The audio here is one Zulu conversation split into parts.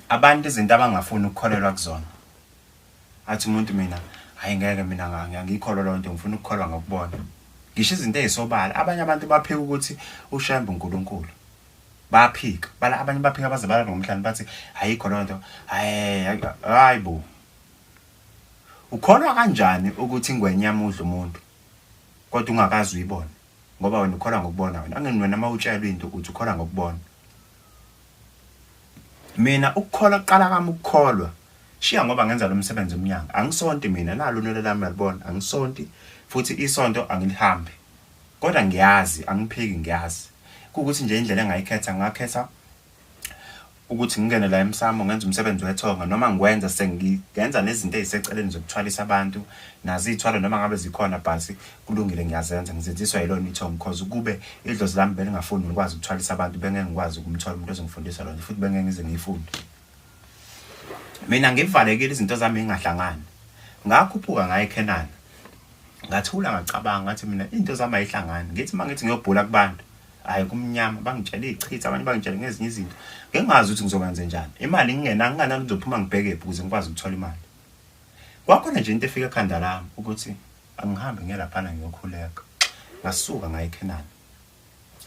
abantu izinto abangafuni ukukholelwa kuzona athi umuntu mina hayi ngeke mina ngangikholwa loo nto ngifuna ukukholwa ngokubona ngisho izinto ezisobala abanye abantu baphika ukuthi ushembe unkulunkulu baphika bala abanye baphika baze bala nomhlanje bathi ayikho loo nto hayi bo ukholwa kanjani ukuthi ingwenya yamudla umuntu kodwa ungakazi uyibona ngoba wena ukholwa ngokubona wena angeni wena uma utshelwe into ukuthi ukholwa ngokubona Mina ukukholwa kuqala kami ukukholwa. Shiya ngoba ngenza lo msebenzi emnyango. Angisonti mina nalo unwele lami uyalibona. Angisonti futhi isonto angilihambi. Kodwa ngiyazi angiphiki ngiyazi. Kuwukuthi nje indlela engayikhetha ngakhetha ukuthi ngingene la emsamo ngenza umsebenzi wethonga noma ngikwenza sengenza nezinto eziseceleni zokuthwalisa abantu nazo iy'thwalo noma ngabe zikhona but kulungile ngiyazenza ngizenziswa yilona ithongo because ukube idlozi lami belingafuni ngikwazi ukuthwalisa abantu bengeke ngikwazi ukumthola umuntu ozongifundisa lona futhi bengeke ngize ngiyifunde mina ngivalekile izinto zami ingahlangani ngakhuphuka ngaye eKhenana ngathula ngacabanga ngathi mina into zami ayihlangani ngithi uma ngithi ngiyobhula kubantu hayi kumnyama bangitshela ichitha abanye bangitshela ngezinye izinto ngingazi ukuthi ngizokwenze njani imali ngingena nginganani ngizophuma ngibheke phi ukuze ngikwazi ukuthola imali kwakhona nje into efika ekhanda lami ukuthi Angihambe ngiye laphana ngiyokhuleka. Ngasuka ngaya eKhenana.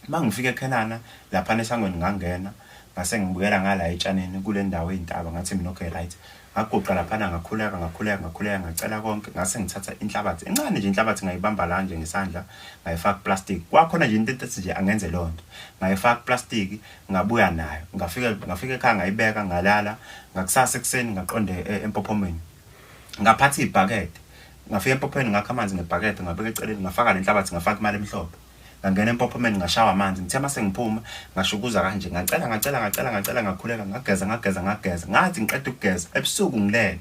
Uma ngifika eKhenana, laphana esangweni ngangena, ngase ngibukela ngala etshanini kule ndawo ey'ntaba, ngathi mina okay right. Ngaguqa laphana ngakhuleka, ngakhuleka, ngakhuleka, ngacela konke, ngase ngithatha inhlabathi. Encane nje inhlabathi ngayibamba la nje ngesandla, ngayifaka kuplastiki. Kwakhona nje into ethi nje angenze leyo nto. Ngayifaka kuplastiki, ngabuya nayo. Ngafika ngafika ekhaya ngayibeka, ngalala. Ngakusasa ekuseni ngaqonda e, empophomeni. Ngaphatha ibhakede, Ngafika empophomeni ngakha amanzi ngebhakede ngabeka eceleni ngafaka lenhlabathi ngafaka imali emhlophe. Ngangena empophomeni ngashawa amanzi ngithe mase ngiphuma ngashukuza kanje ngacela ngacela ngacela ngacela ngakhuleka ngageza ngageza ngageza ngathi ngiqeda ukugeza ebusuku ngilele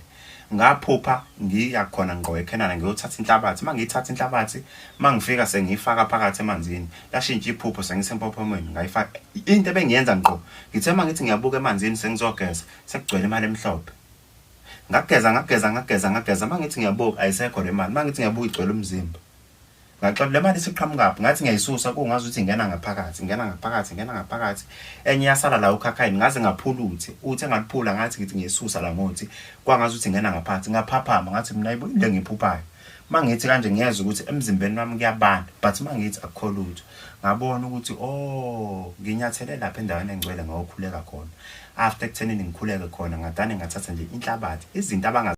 ngaphupha ngiya khona ngqo eKhenana ngiyothatha inhlabathi uma ngiyithatha inhlabathi uma ngifika sengiyifaka phakathi emanzini lashintsha iphupho sengisempophomweni ngayifaka into ebengiyenza ngqo ngithe uma ngithi ngiyabuka emanzini sengizogeza sekugcwele imali emhlophe ngageza ngageza ngageza ngageza uma ngithi ngiyabuka ayisekho le mali uma ngithi ngiyabuka igcwele umzimba ngaxola le mali isiqhamukaphi ngathi ngiyayisusa kungazi ukuthi ingena ngaphakathi ingena ngaphakathi ingena ngaphakathi enye yasala la ukhakhayini ngaze ngaphula uthi uthi engaliphula ngathi ngithi ngiyisusa la ngothi kwangazi ukuthi ingena ngaphakathi ngaphaphama ngathi mina yibo into engiphuphayo uma ngithi kanje ngiyezwa ukuthi emzimbeni wami kuyabanda but uma ngithi akukho lutho ngabona ukuthi o oh, nginyathele lapha endaweni engcwele ngawokhuleka khona after ekuthenini ngikhuleke khona ngadane ngathatha nje inhlabathi izinto